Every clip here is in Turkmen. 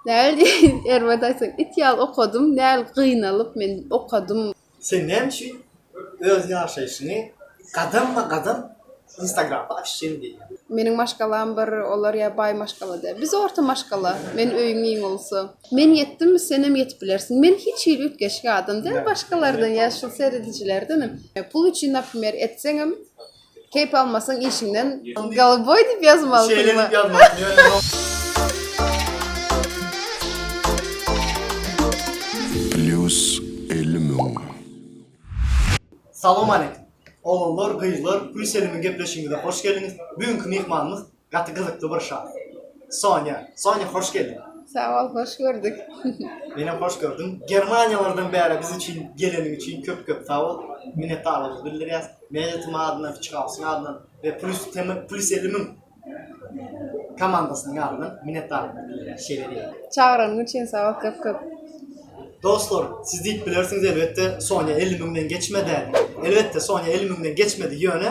Näl diýýin, erbet aýtsaň, it ýaly okadym, näl gynalyp men okadym. Sen näme üçin öz ýaşaýşyňy gadamma gadam instagramda açjyň diýýän. Meniň maşgalam bir, olar ýa baý maşgala däl. Biz orta maşgala, men öýüň iň ulusy. Men ýetdim, senem ýetip bilersiň. Men hiç hili üýtgeşik adam däl başgalardan ýa şu seredijilerdenem. Pul üçin, naprimýer, etseňem, Keyp almasaň işiňden Galaboy diýip ýazmalysyňmy? Plus elli müň. Salowmaleýkim. Oglanlar, gyzlar, Plus elli müň gepleşigimize hoş geldiňiz. Bu günki myhmanymyz Gaty gyzykly bir şa. Sonya. Sonya hoş geldiň. Sag bol, hoş gördük. Menem hoş gördüm. Germaniýalardan bäri biz üçin geleniň üçin köp köp sag bol. Minnetdarlygymyzy bildirýäs. Meýletim adyndan, Kiçi Gawusyň adyndan we Plus TM Plus elli müň komandasynyň adyndan minnetdarlygymyzy bildirýäs. Şeýle diýeli. Çagyranyň üçin sag bol köp köp. Dostlar, siz diýip bilersiňiz elbetde Sonya elli müňden geçmedä diýip. Elbetde Sonya elli müňden geçmedi ýöne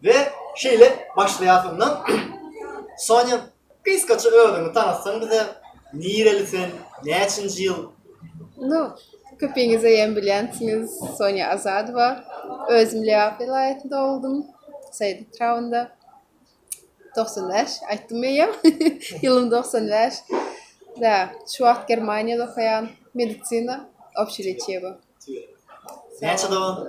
We şeýle başlaýasynda Sonya gysgaça özüňi tanatsaň bize nireli sen näçinji ýyl? No köpiňizeýem bilýänsiňiz Sonya Azadowa özüm Lebap welaýatynda dogdum Saýyt etrabynda togsan bäş aýtdym eýýäm ýylym togsan bäş da şu wagt Germaniýada okaýan medisina obşileçiýa bu. Näçe dogan?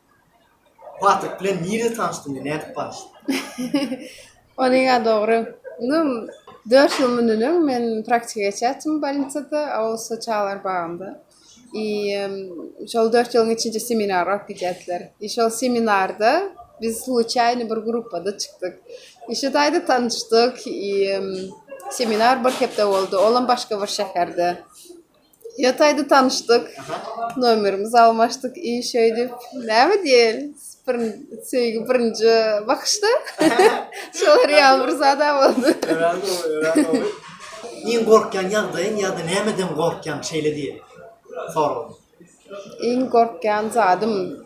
Patrik bilen nirede tanyşdyň we nädip barşdyň? Ony ýa dogry. Indi dört ýyl mundan öň men praktika geçýärdim bolnitsada, Awus çagalar bagynda. I şol dört ýylyň içinde seminar alyp gidýärdiler. I şol seminarda biz sluçaýno bir gruppada çykdyk. I şu taýda tanyşdyk. I seminar bir hepde boldy, olam başga bir şäherde. Ýotaýda tanyşdyk. Nomerimizi almaşdyk, iý şeýdip. Näme diýeli? Birin söýgi birinji bakyşda. Şolar ýaly bir zad-a boldy. Örän gowy, örän gowy. Iň gorkýan ýagdaýyň ýa-da nämeden gorkýaň şeýle diýeli sorag? Iň gorkýan zadym.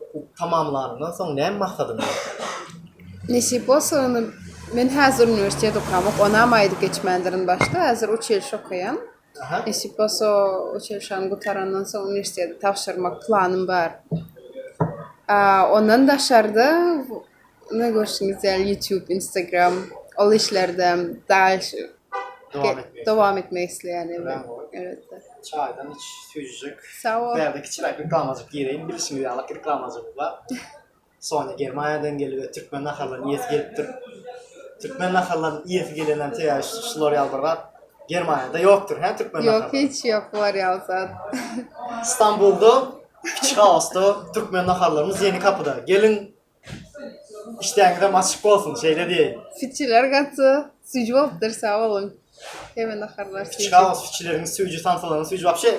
Okuw tamamlanyndan soň näme maksadyň bar? Nesip bolsa ony men häzir uniwersitet okamok, onam aýdyp geçmändirin başda, häzir uçilişe okaýan. Nesip bolsa uçilişäni gutarandan soň uniwersitete tabşyrmak planym bar. Ondan daşarda Ine görşüňiz ýaly YouTube, Instagram ol işlerde dalşy dowam etmek isleýän indi. Elbetde. Çaýdan iç, süýjüjek. Sag ol. Bärde kiçiräk reklamajyk gireýin. Bilşiňiz ýaly reklamajygymyz bar. Sonya Germaniýadan geldi we türkmen nahallaryny iýesi gelipdir. Türkmen nahallaryny iýesi gelenden teýär şular ýaly bir zat. Germaniýada ýokdur, hä türkmen nahary? Ýok, hiç ýok bular ýaly zat. Stambulda, Kiçik Awasda türkmen naharlarymyz ýeni kapyda. Geliň, Işdäňizem açyk bolsun, şeýle diýeýin. Fiçiler gaty süýji bolupdyr, sag boluň. Heme naharlar süýji. Fiçka bolsa fiçileriňiz süýji, samsalaryňyz süýji, wapşe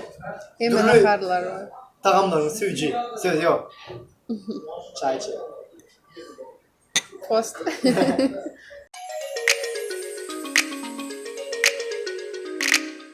Heme naharlar bar. Tagamlaryňyz süýji, söz ýok. Çaý içeýin. Tost.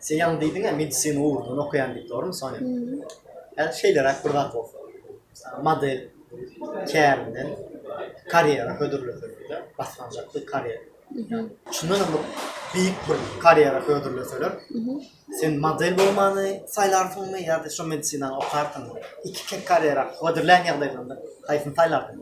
Sen ýaňy diýdiň-ä, medisina ugrundan okaýan diýip, dogrumy, Sonya? Häzir şeýleräk bir zat bolsa, model kärinden karýera hödürleseler-de, başlanjak bir karýera. Şundan hem bir beýik bir karýera hödürleseler, sen model bolmany saýlarsyňmy ýa-da şu medisinany okarsyňmy? Iki karýera hödürlän ýagdaýlarynda haýsyny saýlarsyň?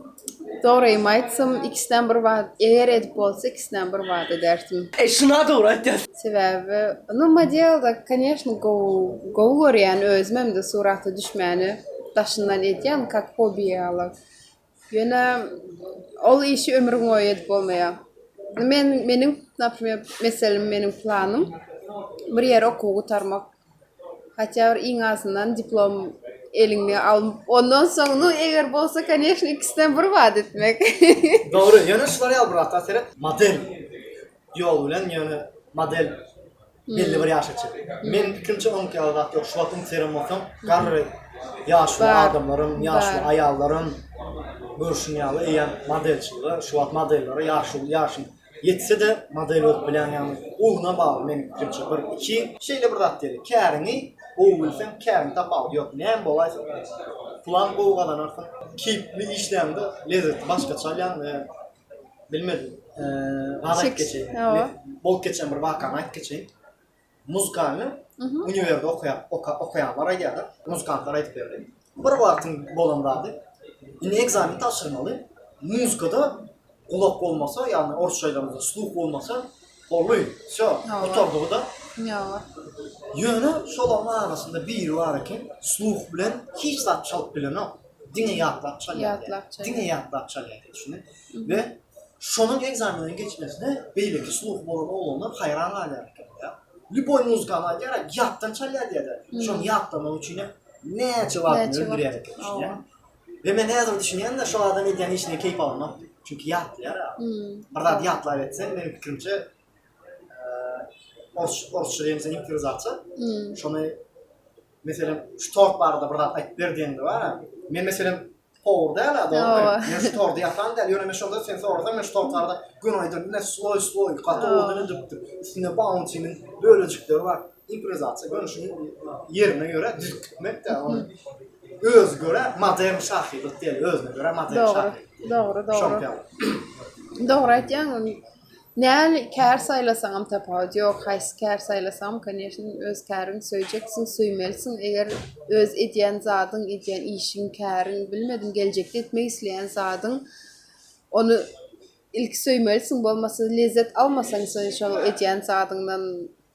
Dogrymy aýtsam, ikisinem bir wagt, eger edip bolsa, ikisinem bir wagt ederdim. E şuna dogry aýtýas. Sebäbi, nu modelda, koneşno, gowy, gowy görýän, özüm hem-de surata düşmäni daşyndan edýän, kak hobi ýaly. Ýöne ol işi ömrüňboýy edip bolmaýar. Nu men, meniň, naprimer, meselem, meniň planym, bir ýere okuwy gutarmak. Haçan bir iň azyndan diplom eliňe al. Ondan soň, nu eger bolsa, koneşno, ikisinden bir wagt etmek. Dogry, ýöne şular ýaly bir zatlar seret, model ýoly bilen, ýöne model belli bir ýaşa çenli. Meniň pikirimçe onuňky ýaly zat ýok. Şu wagt Instagram bolsaň, garry ýaşuly adamlaryň, ýaşuly aýallaryň görşüň ýaly eýýäm modelçilige, şu wagt modellere ýaşuly ýaşyň, Ýetse-de model bolup bilen ýaňy ugruna bagly meniň pikirimçe bir iki. Şeýle bir zat diýeli käriňi gowy bilseň käriňi tapawudy ýok näme bolaýsa pulam gowy gazanarsyň keypli işläňde lezzeti başgaça alýaň we bilmedim gazy aýdyp geçeýin bolup geçen bir wakany aýdyp geçeýin Muzykany uniwerde okaýan, okaýanlar aýdýarlar, muzykantlar aýdyp berdi. Bir wagtyň bolan zady, indi ekzameni tabşyrmaly, muzykada gulak bolmasa, ýagny orsça aýdamyzda sluh bolmasa, boldy, wsýo, gutardygy-da. Ýa-a. Ýöne şolaryň arasynda biri bar eken, sluh bilen hiç zat çalyp bilenok, diňe ýatlap çalýar. Ýatlap çalýar. Diňe ýatlap çalýar, düşündiňmi? we şonuň ekzameniň geçmesine beýleki sluhy bolan oglanlar haýran galýar ekeniň-ä. Lýuboý muzykany aýdýar-a, ýatdan çalýar diýer-de, şony ýatlamak üçin hem näçe wagtyny öldürýär eken, düşünýäňmi? We men häzir düşünýän-de, şo adam edýän işine keýp almak, çünki ýatlaýar-a. Bir zady ýatlap etseň, meniň pikirimçe, orsça diýen sen improwizatsiýa, şony, meselem, şu tort barada bir zat aýdyp ber diýende bar-a, men, meselem, Powur däl a, dogrymy? Hawa. Men şu tordy ýasan däl, ýöne men şonda sen sorasaň, men şu tort barada göni aýdar, ine sloý sloý, gaty Hawa. owadan edipdir, üstünde bauntynyň bölejikleri bar, improwizasiýa, göni şuny ýerine görä düzüp gitmek-de, ony özi görä modern şahyrlyk diýeli, özüne görä modern Dogry, şahyrlyk diýeli. dogry, dogry. Şoňka ýaly. Dogry aýtýaň, Näli kär saýlasaňam tapawut ýok, haýsy kär saýlasaňam koneşne öz käriňi söýjeksiň, söýmelisiň, eger öz edýän zadyň, edýän işiň, käriň, bilmedim geljekde etmek isleýän zadyň ony ilki söýmelisiň bolmasa lezzet almasaň sen şol edýän zadyňdan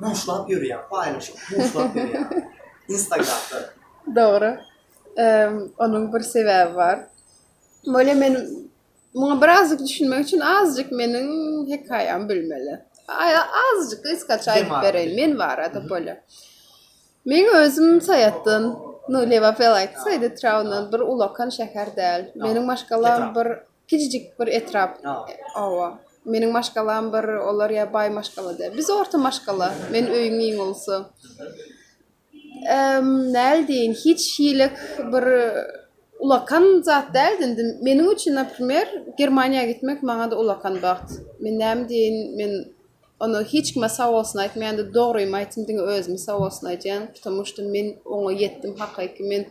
Buşlap ýörýär, paýlaşyp buşlap ýörýär. Instagramda. Dogry. Onuň bir sebäbi bar. Bolýa men muňa birazjyk düşünmek üçin azjyk meniň hekaýamy bilmeli. Azjyk gysgaça aýdyp bereýin men barada bolýa. Men özüm Saýatdan, no Lewapel aýtsa, Edetraundan bir ulakan şäher däl. Meniň maşgalam bir Kiçijik bir etrap. Oba. Meniň maşgalam bir, olar ýa baý maşgalada. Biz orta maşgala. Men öýüň iň ulusy. Emm, näl diýin, hiç hilik bir ulakan zat däldi. Indi meniň üçin, naprimer, Germaniýa gitmek maňa-da ulakan bagt. Men näme diýin, men ony hiç kime sag bolsun aýtmaýan-da, dogrymy aýtsam, diňe özüme sag bolsun aýdýan, ptomu şto men oňa ýetdim hakyky. Men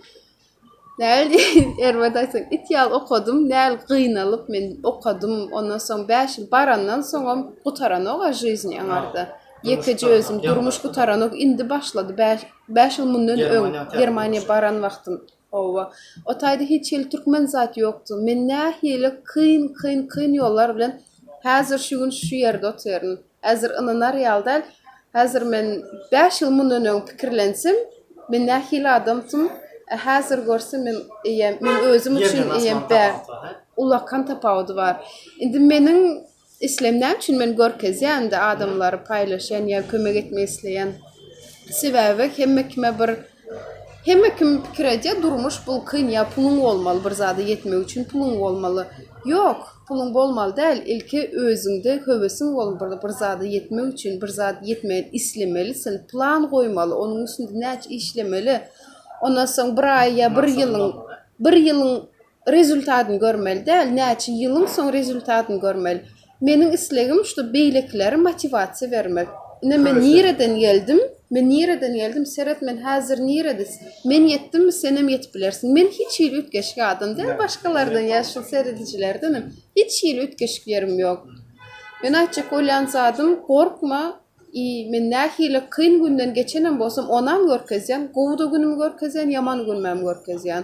Näl diýeýin, erbet aýtsak, it ýaly okadym, näl gynalyp men okadym, ondan soň bäş ýyl barandan soňam gutaranok-a žyzni aňarda. Ýekeje özüm, durmuş gutaranok, indi başlady, bäş, bäş ýyl mundan öň Germaniýa baran wagtym, hawa, o taýda hiç hili türkmen zat ýokdy, men nähili kyn, kyn, kyn ýollar bilen häzir şu gün şu ýerde otyryn. Häzir ynanar ýaly däl. Häzir men bäş ýyl mundan öň pikirlensem, men nähili adamsym, a häzir görsem men eýýäm, men özüm üçin eýýäm bä, ulakan tapawudy bar. Indi meniň islegim näme üçin men görkezýän-de adamlary paýlaşýan ýa kömek etmek isleýän? Sebäbi hemme kime bir Hemme kim pikir edýär durmuş bul kyn ýa puluň bolmaly bir zada ýetmek üçin puluň bolmaly ýok puluň bolmaly däl ilki özüňde höwesiň bolmaly bir zada ýetmek üçin bir zat ýetmegini islemelisin plan goýmaly onuň üstünde näçe işlemeli ondan soň bir aý ýa bir ýylyň bir ýylyň Rezultatyny görmeli däl, näçe ýylyň soň rezultatyny görmeli. Meniň islegim şu beýlekilere motiwasiýa bermek. Ine men nireden geldim, men nireden geldim, seret men häzir nirede, men ýetdimmi senem ýetip bilersiň. Men hiç hili üýtgeşik adam däl başgalardan ýa şu seredijilerdenem hiç hili üýtgeşik ýerim ýok. Men aýtjak bolýan zadym gorkma i men nähili kyn günden geçenem bolsam onam görkezýän, gowyda günümi görkezýän, ýaman günümem görkezýän.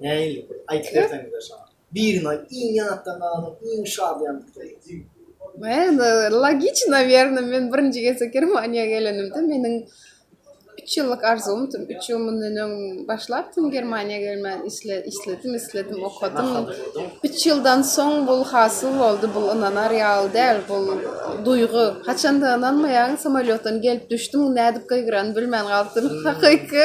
Nähili bir aýdyp berseňizler şaňa. Birini aýt iň ýatda galan iň şadyýanlykdaky. Endi logiki nawerno men birinji gezek germaniýa gelenimde meniň üç ýyllyk arzuwym tüm üç ýyl mundan öň başlap tüm germaniýa gelmän işle işledim isledim okadym üç ýyldan soň bul hasyl boldy bul ynanar ýaly däl bul duýgy haçanda ynanmaýaň samolýotdan gelip düşdüm nädip gygyrany bilmän galypdym hakyky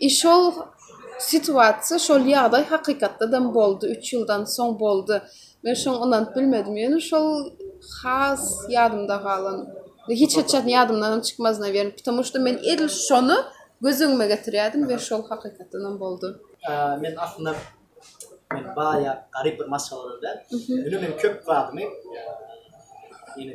I şol situasiýa, şol ýagdaý hakykatdadam boldy, üç ýyldan soň boldy. Men şoň ynanyp bilmedim. Ýöne şol has ýadymda galan. Hiç haçan ýadymdanam çykmaz, nawerno, ptomu şto men edil şony göz öňüme getirýärdim we şol hakykatdanam boldy. Ä, men aslynda men baýa garyp bir maşgaladan däl. Ýöne men köp zadymy, ýa, ýene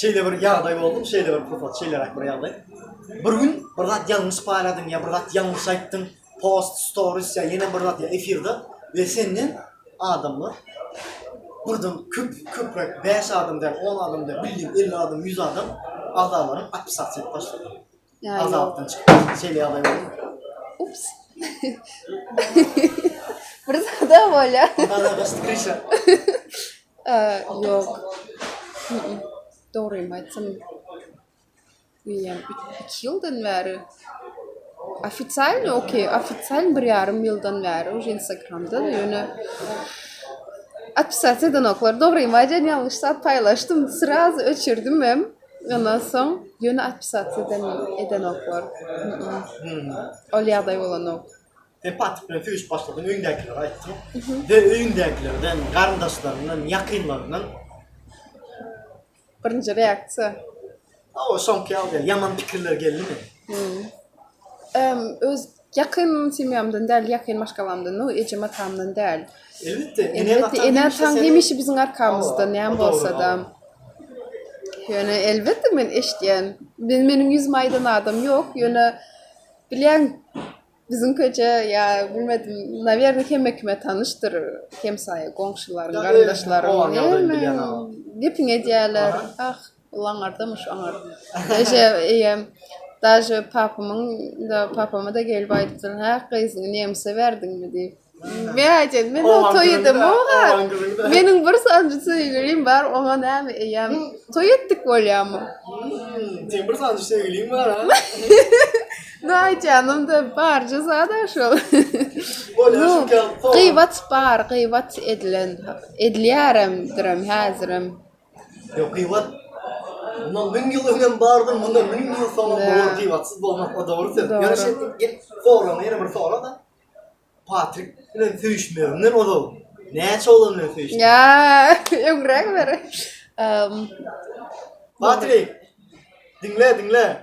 Şeýle bir ýagdaý boldy, şeýle bir pursat, şeýleräk bir ýagdaý. Bir gün bir zat ýalňyş paýladyň ýa bir zat ýalňyş aýtdyň, post, stories ýa ýene bir zat ýa efirde we senden adamlar birden köp, köpräk bäş adam däl, on adam däl, bildim elli adam, ýüz adam agzalaryň atpisasiýa edip başladylar. Azapdan çykdyk. Şeýle ýagdaý boldy. Ups. Bir zada bolýar. Ondan başga kreşe. Ýok. Dogrymy aýtsam, diýýän, iki ýyldan bäri ofitsialny okey, ofitsial bir ýarym ýyldan bäri uje Instagramda, ýöne atpisat edenoklar, dogrymy aýdýan, ýalňyş zat paýlaşdym, sraz öçürdim hem. Ondan soň ýöne atpsatsyýa edenoklar. Ol ýagdaý bolanok. Sen patyk bilen söýüşip başladyň, öýüňdäkilere aýtdyň. Döl öýüňdäkilerden, garyndaşlaryňdan, ýakynlaryňdan? Birinji reaksiýa. Hawa, soňky ýaly däl. Ýaman pikirler geldimi? Öz Ýakyn semýamdan däl, ýakyn maşgalamdan, no ejem-atamdan däl. Elbetde, ene-ene, ene-ataň hemişe biziň arkamyzda, näme bolsa-da. Ýöne, elbetde, men eşitýän. Men, meniň ýüzümi aýdan adam ýok, ýöne, bilýän, biziň köçe ýa, bilmedim, nawýerne, hemme kime tanyşdyr, hemsaýa, goňşularyň, garyndaşlaryň, hemme gepiňi edýärler. Ah, Ol aňarda myş oňar. Eje eýem daže papamyň da papama da gelip aýdypdyr. Hä gyzyňy nemse berdiňmi diýip. Men aýdýan men o toý edem oňa. Meniň bir sanjy söýgülim bar oňa näme eýem toý etdik bolýamy. Seň bir sanjy söýgüliň bar ha. No aýdýanym da barja zada şol. Gybat bar gybat edilen edilýäremdirem häzirem. Hökigat Bundan müň ýyl öňem bardyr, mundan müň ýyl soňam bolar gybatsyz bolmak o dogry söz. Ýöne şeýle şey, gel sorama ýene bir sora da. Patrik bilen söýüşmeginden ozal näçe oglan bilen söýüşdi? Ya, öňräk bir. Um, Patrik. Diňle, diňle.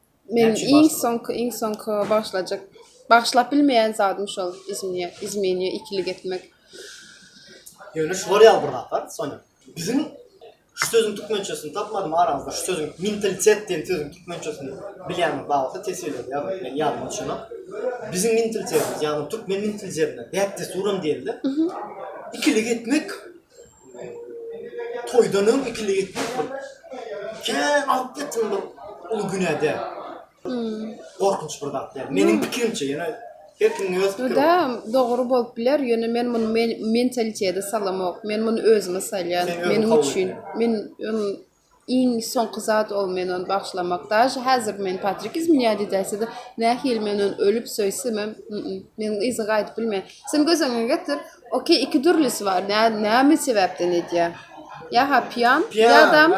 Men iň soňky iň soňky başlajak başlap bilmeýän zadym şol izmine izmine ikilik etmek. Ýöne şu bolýar bir zatlar Sonya. Biziň şu sözüň türkmençesini tapmadym aramyzda şu sözüň mentalitet diýen sözüň türkmençesini bilýäniňiz bar bolsa teswirlap ýazyň. Men ýadyma düşenok. Biziň mentalitetimiz ýagny türkmen mentalitetinde däp-dessuram diýildi. Ikilik etmek Toýdan öň ikili gitmek bir kän alyp gitdim bir uly günede. Gorkunç bir zat däl. Meniň pikirimçe, ýöne her kimiň öz pikiri. Öde dogry bolup biler, ýöne men muny men mentalitete salamok. Men muny özüme salýan, meniň üçin. Men ony Iň soňky zat ol men ony bagşlamak. Daže häzir men Patrik iz minya didäsede nähili men ony ölüp söýsemem mm meniň yza gaýdyp bilmeýä. Sen göz öňüňe getir ok iki dürlisi bar nä näme sebäpden edýä ýa-ha piýan ýadam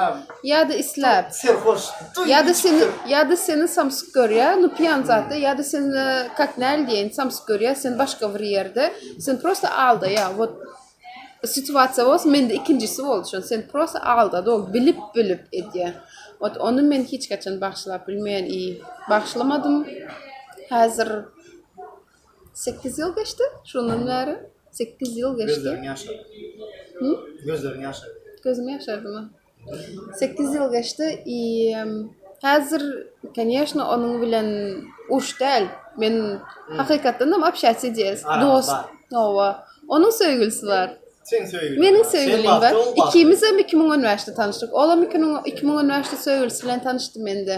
ýa-da isläp Serhoş. Toý Ýa-da geçip seni dur. ýa-da seni samsyk görýä nu piýan zatda ýa-da seni kak näl diýeýin samsyk görýä sen başga bir ýerde sen prosta aldaýa wot Situasiýa bolsa mende ikinjisi boldy şony sen prosta aldady ol bilip bilip edýä ot ony men hiç haçan bagşylap bilmeýän i bagşylamadym häzir sekiz ýyl geçdi şondan bäri sekiz ýyl geçdi gözleriň ýaşardy gözleriň ýaşardy gözüm ýaşardymy Sekiz ýyl geçdi i häzir koneşno onuň bilen urş däl men hakykatdanam obşaýsy diýes dost oba onuň söýgülisi bar meniň söýgülim bar ikimizem iki müň on bäşde tanyşdyk olam iki müň on bäşde söýgülisi bilen tanyşdy mende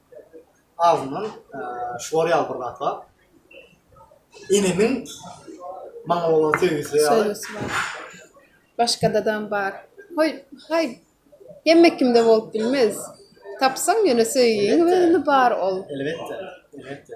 Agzymdan şular ýaly bir zat bar. Enemiň maňa bolan söýgüsi ýaly. Söýgüsi bar. Başgadadam bar. Hoý, haý, hemme kimde bolup bilmez. Tapsaň ýöne söýgüň özünde bar ol. Elbetde, elbetde.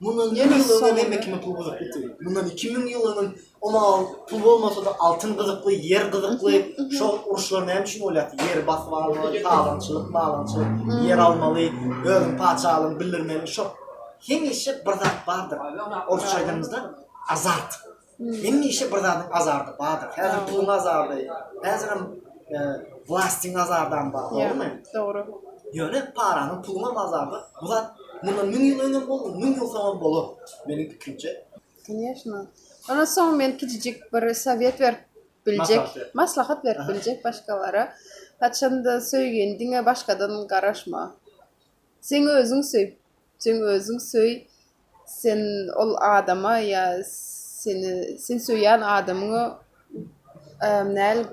Mundan iki ýyl ozal hemme kime pul gyzyklydy. Mundan iki müň ýyl ozal oňa pul bolmasa-da altyn gyzykly, ýer gyzykly. Şo uruşlar näme üçin bolýardy? Ýeri basyp almaly, talaňçylyk, malaňçylyk, ýer almaly, özüň patyşalygyňy bildirmeli. Şo hemişe bir zat bardyr. Orsça aýdanymyzda azat. Hemişe bir zadyň azardy bardyr. Häzir puluň azardy, häzirem vlastiň azardam bar, dogrumy? Dogry. Ýöne paranyň, puluň hem azardy. Bu zat mundan müň ýyl öňem boldy, müň ýyl soňam bolar, meniň pikirimçe. Конечно. Ondan soň men kiçijik bir sowet berip biljek, maslahat berip biljek başgalara. Haçanda söýgeniňe başgadan garaşma. Sen özüňi söý. Sen özüň söý, sen ol adama ýa seni sen söýýän adamyňa näl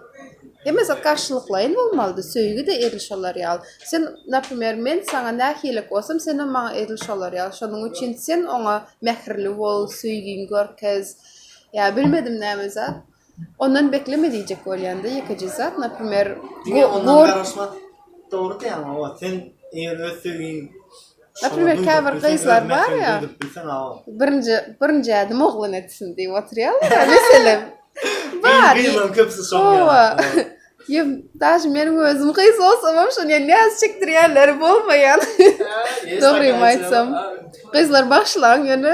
hemme zat garşylyklaýyn bolmalydy, söýgi-de edil şolar ýaly. Sen, naprimer, men saňa nähilirik bolsam, senem maňa edil şolar ýaly. Şonuň üçin sen oňa mähirli bol, söýgiňi görkez, ýa bilmedim näme zat. Ondan bekleme diýjek bolýanda ýekeje zat naprimer Dogry diýýäň awa sen eger öz söýgiň Naprimer käbir gyzlar bar ýa birinji birinji ädim oglan etsin diýip oturýarlar ýa meselem bar gyzlaryň köpüsi şoň ýaly Ýa daşy meniň özüm gyz bolsamam şony ýa näz çekdirýänleri bolmaýan Dogrymy aýtsam gyzlar bagşlaň ýöne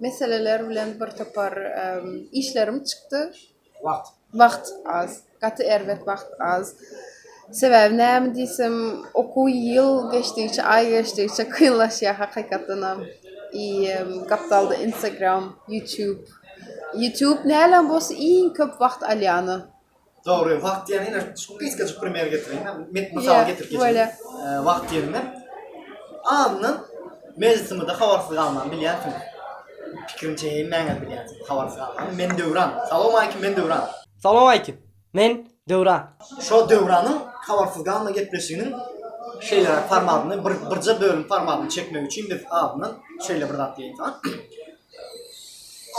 meseleler bilen bir topar işlerim çykdy. Wagt. Wagt az. Gaty erbet wagt az. Sebäbi näme diýsem, okuw ýyl geçdigiçe, aý geçdigiçe kynlaşýar hakykatdanam. I gapdalda Instagram, YouTube. YouTube näläm bolsa iň köp wagt alýany. Dogry, wagt diýen ýene şu gysgajyk primer getireýin. Men mysal getirip geçeýin. Wagt diýende andan mejlisimizde habarsyz galman bilýänsiň. Pikirim çeýin mäňe bilýänsiň. Habarsyz galman. Men Döwran. Salam aýkim, men Döwran. Salam aýkim, men Döwran. Şo Döwranyň habarsyz galma gepleşiginiň şeýleräk formatyny bir birje bölüm formatyny çekmek üçin biz andan şeýle bir zat diýeýin saňa.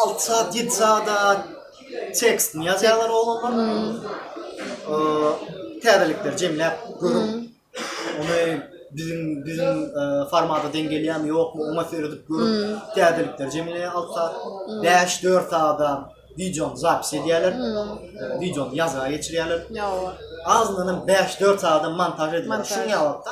6 saat, 7 saat tekstini ýazýarlar oglanlar. Täzelikler jemläp görüp, ony biziň biziň formata deň gelýärmi, ýokmy, oňa seredip görüp, täzelikler jemleýär 6 saat. 5-4 saat wideony zapis edýärler. Wideony ýazga geçirýärler. Azyndanam 5-4 saat montaž edýärler. Şuň ýaly wagtda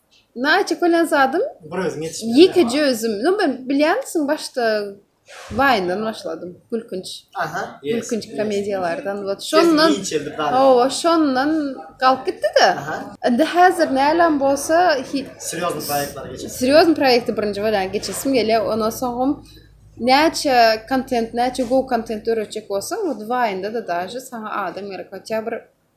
Naýça kölen zadym. Bir özüm ýetişmedim. Ýekeje özüm. No men bilýänsiň başda Waýndan başladym. Gülkünç. Aha. Gülkünç komediýalardan wot şondan. Hawa şondan galyp gitdi-de. Indi häzir näläm bolsa hit. Serýozny proýektleri geçesim. Serýozny proýekti birinji bolýan geçesim gelýä. Ondan soňam näçe kontent, näçe gowy kontent döretjek bolsaň wot Waýnda-da daže saňa adam gerek. Hatýa bir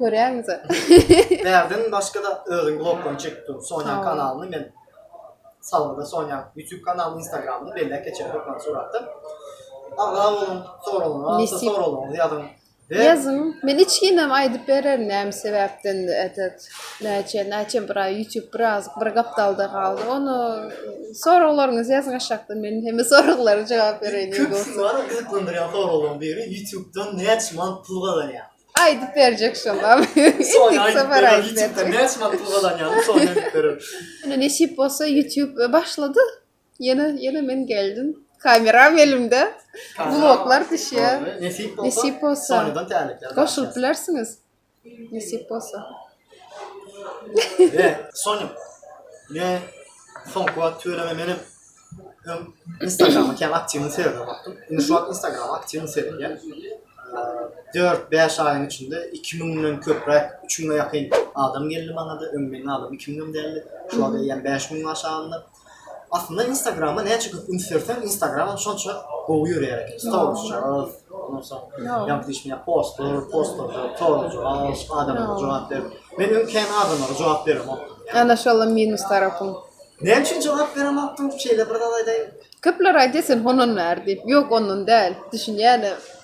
Görýäňizä. Bärden başga da özüň blogdan çekip dur. Sonya kanalyny men salgda Sonya YouTube kanalyny, Instagramyny belläp geçen hökman suratda. Aga onuň soragyna, soragyny ýazyň. Ýazyň. Men hiç kimem aýdyp bererin näme sebäpden etet. Näçe, näçe bir aý YouTube biraz bir gapdalda galdy. Onu soraglaryňyzy ýazyň aşakda. Men hemme soraglara jogap bereýin. Köp soragyň biri YouTube-dan näçe mant pul gazanýar? Aýdyp berjek şoňa. Soňa aýdyp berer. Ýutube näçe wagt pul gazanýanyny soňa aýdyp berer. Ine nesip bolsa Ýutube başlady. Ýene ýene men geldim. Kameram elimde. Bloglar düşýär. Nesip bolsa. Nesip bolsa. Soňadan täleklär. Goşulyp bilersiňiz. Nesip bolsa. He, Sonya. Ne? Soňky wagt tüweleme menem hem Instagrama kem aktiwny serdim wagtym. Indi şu wagt Instagrama aktiwny serýän. 4-5 aýyň içinde 2000 den köpräk, 3000 ýakyn adam geldi maňa da, öň meniň adam 2000 dem däldi. Şu wagt eýýäm 5000 aşagynda. Aslynda instagrama näçe köp üns berseň instagramam şonça gowy ýörýär eken storisja ondan soň ýa diýşim ýa postlar postlarda sorag jogap adamlara jogap berip men öň kän adamlara jogap beremok ana şolam minus tarapyň näme üçin jogap beremokdyň şeýle bir zat aýdaýyn köpler aýdýar sen hononmär diýip ýok ondan däl düşünýäne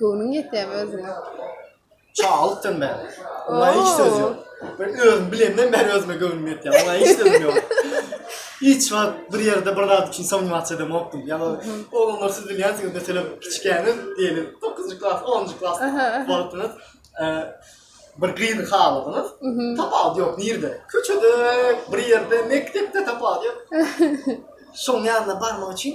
Göwnüň ýetýärmi özüňe? Çagalykdan bäri. Oňa hiç söz ýok. Men özüm bilemden bäri özüme göwnüm ýetýär. Oňa hiç sözüm ýok. Hiç wagt bir ýerde bir zat üçin soňňy wagt çydamokdym. Ýa-da oglanlar siz bilýänsiňiz, meselem, kiçikäňiz, diýeli, dokuzynjy klas, onunjy klas bolupsyňyz. Bir gyzy haladyňyz. Tapawudy ýok nirde. Köçede, bir ýerde, mekdepde tapawudy ýok. Şoň ýanyna barmak üçin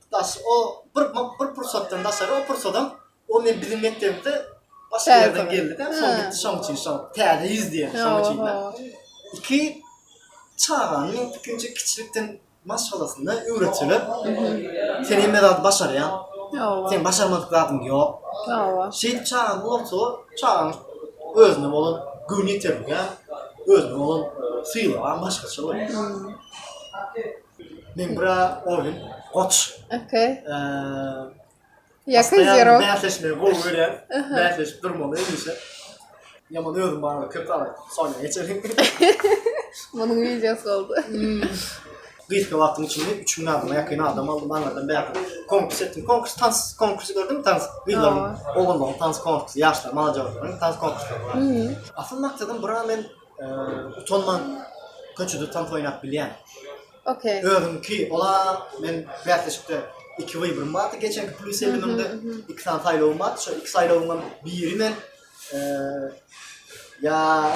Daş o bir bir pursatdan daşary o pursadam o men biziň mekdebimizde başga ýerden geldi de şol gitdi şoň üçin şo täze ýüz diýen şoň üçin de iki çagany ikinji kiçilikden maşgalasyna öwretseler sen hemme zady başarýaň sen başarmadyk zadyň ýok şeýdip çagaň bolsa çagaň özüne bolan göwni ýeterlik özüne bolan sylag başgaça bolýar Men bra Ovin, Goç. Okey. Ýakyn zero. Bäsleşmegi gowy görýän. Bäsleşip durmaly hemişe. Ýaman özüm barada köp aýt. Soňra geçelim. Munuň wideosy boldy. Gysga wagtyň içinde 3000 adama ýakyn adam aldym. Aňyrdan bäri konkurs etdim. Konkurs tans konkursy gördüm. Tans gyzlaryň, oglanlaryň tans konkursy, ýaşlaryň, mala jagalaryň tans konkurslary bar. Asyl maksadym bra men Utanman köçede tans oýnap bilýän. Okey. Özüňki ola men bäsleşikde iki we birim bardy geçenki plus ellimde iki sany saýlawym bardy şu iki saýlawymdan biri men ya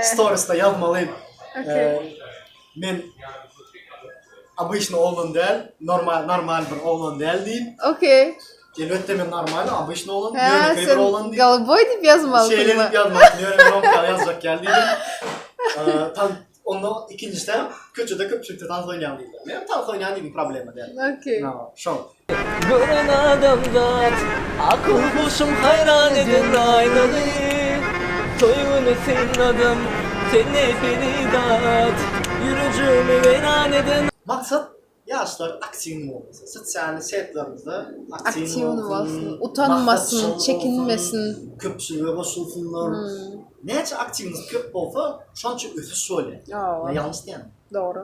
storiesda ýazmaly. Okey. Men obyçny oglan däl, normal normal bir oglan däl diýip. Okey. Elbetde men normal, obyçny oglan, ýönekeý bir oglan diýip. Golboý diýip ýazmaly. Şeýle diýip ýazmaly. Ýöne men oňka ýazjak ýaly diýdim. Tan onda ikinjisi hem köçede köpçülikde tans oýnaýan diýdi. Men tans oýnaýan diýdim, problema däl. Okey. Şol. Gören adamzat akyl huşum haýran eden aýnaly Toý güni synladym seni Feridat Ýürejigimi weýran eden Maksat ýaşlar aktiwny bolsun, sosial setlerimizde aktiwny bolsun, utanmasyn, çekinmesin, köpçülige goşulsynlar. Näçe aktiwnyz köp bolsa, şonça ösüş bolýar. Ýalňyş diýenok. Dogry.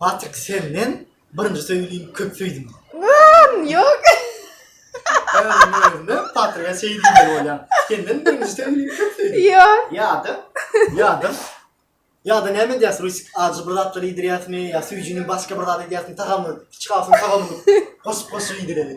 Patrik senden birinji söýgim köp söýdim. Yyyyy ýok. Özüm özüme Patrige şeý diýmeli bolýan. Senden birinji söýgim köp söýdim. Ýok. Ýa-da ýa-da ýa-da näme edýäs Rusik ajy bir zatlar iýdirýäsmi ýa söýjini başga bir zat edýäsmi tagamyny içgawusyny tagamyny goşup goşup iýdireli.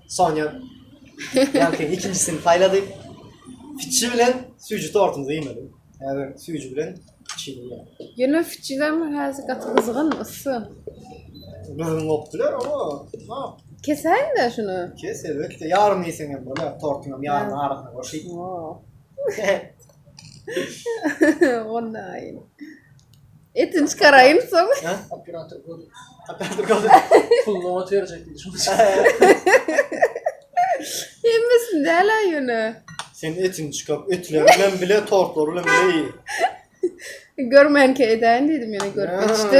Sonya ýankynyň ikinjisini saýlady. Fiçi bilen süýji tortumyzy iýmeli. Häzir süýji bilen fiçini iýelim. Ýöne fiçiler häzir gaty gyzgyn, yssy. Gürrüň gopdular, o, ha. Kesäýin-de şuny. Kes, elbetde. Ýarymy iýseň hem bolar, tortuňam ýarymy arasyna goşy. Onda aýy. Etini çykaraýyn soň. Operator gol. Operator gol. Pulunu ot berjek diýdi şoň. Hemmesini däl aýyny. Sen etini çykar, etleri bilen bile tortlary bilen bile iý. Görmänkä edäýin diýdim ýöne görüp geçdi.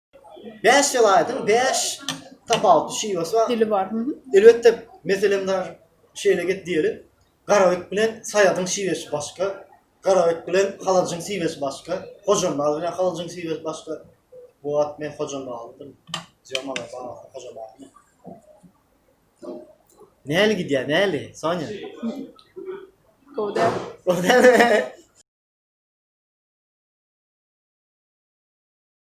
Bäş welaýatyň bäş tapawutly şiwesi bar. Dili bar. Elbetde, meselem bar. Şeýle get diýeli. Garabek bilen Saýadyň şiwesi başga. Garabek bilen Halajyň şiwesi başga. Hojambaz bilen Halajyň şiwesi başga. Bu wagt men Hojambazlydym. Zýomala baglanyp Hojambazmy? Näli gidýär, näli, Sonýa? Gowy däl. Gowy dälmi?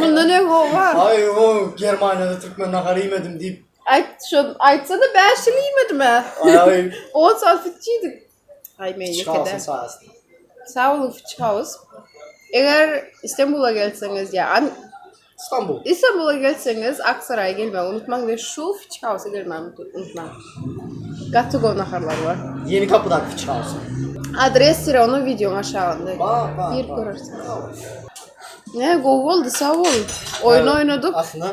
Mundan öň howa. Ay o Germaniýada türkmen nahary iýmedim diýip. Aýt şo aýtsana 5 ýyl iýmedim-ä. Ay ay. On saat fitç iýdik. Ay men ýeke de. Çykarsyn saýasty. Sag boluň fitç haus. Eger Istanbula gelseňiz ýa An- Stambul. Istanbula gelseňiz Aksaraýa gelmegi unutmaň we şu fitç hausa gelmegi unut- unutmaň. Gaty gowy naharlar bar. Ýeni kapydaky çykarsyn. Adres syra onuň wideoň aşagynda. Bar bar. Girip bar. görersiňiz. Ne gowy boldy sag bol. Oýun oýnadyk. Aslynda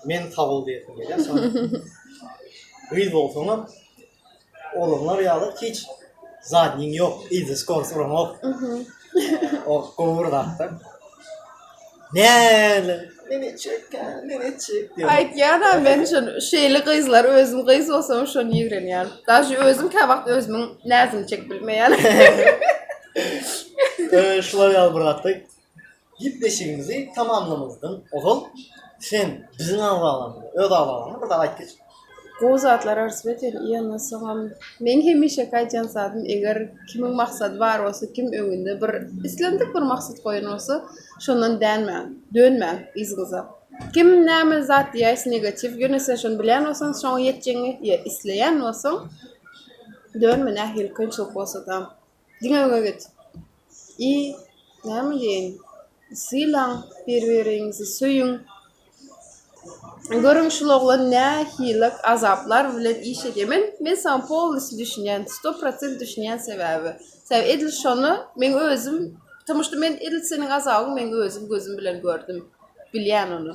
men sag bol diýesim gelýär. Gyz bolsaňam oglanlar ýaly hiç zadniň ýok, izi skors uraňok. O gowy bir zatda. Ne Nenecik, nenecik diyor. Aýtýar da men şun şeýle gyzlar özüm gyz bolsam şony ýigrenýän. Daşy özüm kä wagt özümiň näzini çek bilmeýän. Ee, şular ýaly bir zatda gepleşigimizi tamamlamazdan ozal sen biziň agzalarymyza, öz agzalaryňa bir zat aýt geçip. Gowy zatlar arz beter ýöne soňam meň hemişeki aýdýan zadym eger kimiň maksady bar bolsa kim öňünde bir islendik bir maksat goýan bolsa şondan dänmäň dönmäň yzyňyza kim näme zat diýäýse negatiw ýöne sen şony bilýän bolsaň şoňa ýetjegiňe ýe isleýän bolsaň dönme nähili kynçylyk bolsada. Diňe öňe git. I näme diýeýin? Sylaň bir-biriňizi, söýüň. Görüň şul oglan nähili azaplar bilen iş edýär. Men men saňa polnistü düşünýän, sto prosent düşünýän sebäbi. Sebäbi edil şony men özüm, tomuş men edil seniň azabyňy men özüm gözüm bilen gördüm. Bilýän ony.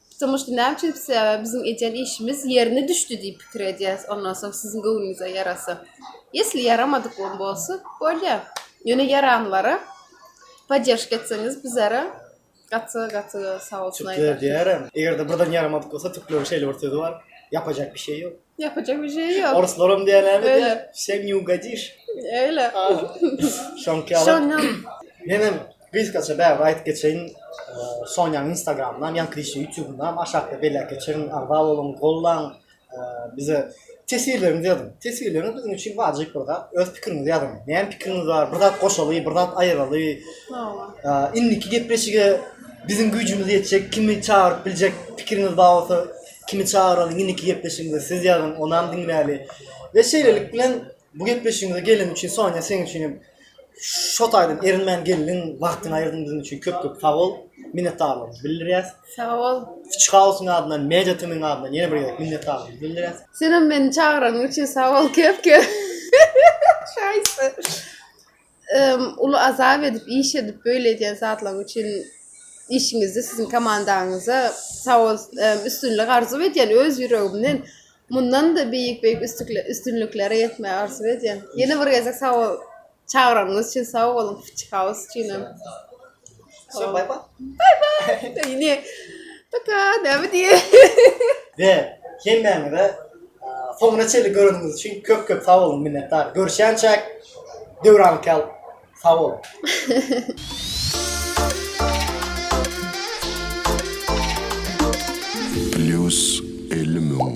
Pitiň uçdy näme üçin pisiýa biziň edýän işimiz ýerine düşdi diýip pikir edýäs ondan soň siziň göwnüňize ýarasa ýesli ýaramadykam bolsa bolýa ýöne ýaranlara podderžka etseňiz bizara gaty gaty sag bolsun aýdarys. Tükler diýerem egerde birden ýaramadyk bolsa tükleriň şeýle bir sözi bar ýapajak bir şey ýok. Yapacak bir şey yok. Orslarım diýenäni Öyle. diýär, sen ne ugadýyş. Öyle. Şoňky ýaly. Şondan Men hem gysgaça bäri aýdyp geçeýin. Eee, Sonýanyň Instagramyndan, Ýaňky Dişli YouTube-dan aşakda belläp geçerin. Agza boluň, gollaň. Eee, Bize teswirleriňizi ýazyň. Teswirleriňiz biziň üçin wajyp bir zat. Öz pikiriňizi ýazyň. Näme pikiriňiz bar? Bir zat goşaly, bir zat aýyraly. Hawa. Eee, Indiki gepleşige biziň güýjümiz ýetjek, kimi çagyryp biljek pikiriňiz bar bolsa, Kimi çagyralyň indiki gepleşigimize siz ýazyň onam diňläli. We şeýlelik bilen bu gepleşigimize gelen üçin Sonya seň üçin hem şo taýdan erinmän geldiň, wagtyňy aýyrdyň biziň üçin köp köp sag bol. Minnetdarlygymyzy bildirýäs. Sag bol. Witch House-yň adyndan, Media TM-yň adyndan ýene bir gezek minnetdarlygymyzy bildirýäs. Senem meni çagyranyň üçin sag bol köp köp. Şaýsty. Uly azap edip iş edip böyle edýän zatlaň üçin işiňizde siziň komandaňyza sawol üstünlik arzuw edýän öz ýüregimden mundanda beýik beýik üstünliklere ýetmegi arzuw edýän ýene bir gezek sawol çagyranyňyz üçin sawol phytchihouse üçinem. Şo bay bay. Bay bay. Yine. Paka ne mi diye. Ve hemmäňe de soňuna çenli göreniňiz üçin köp köp sag bolun minnetdar. Görüşýänçäk Döwran Kel sag bolun. Plus 50 müň.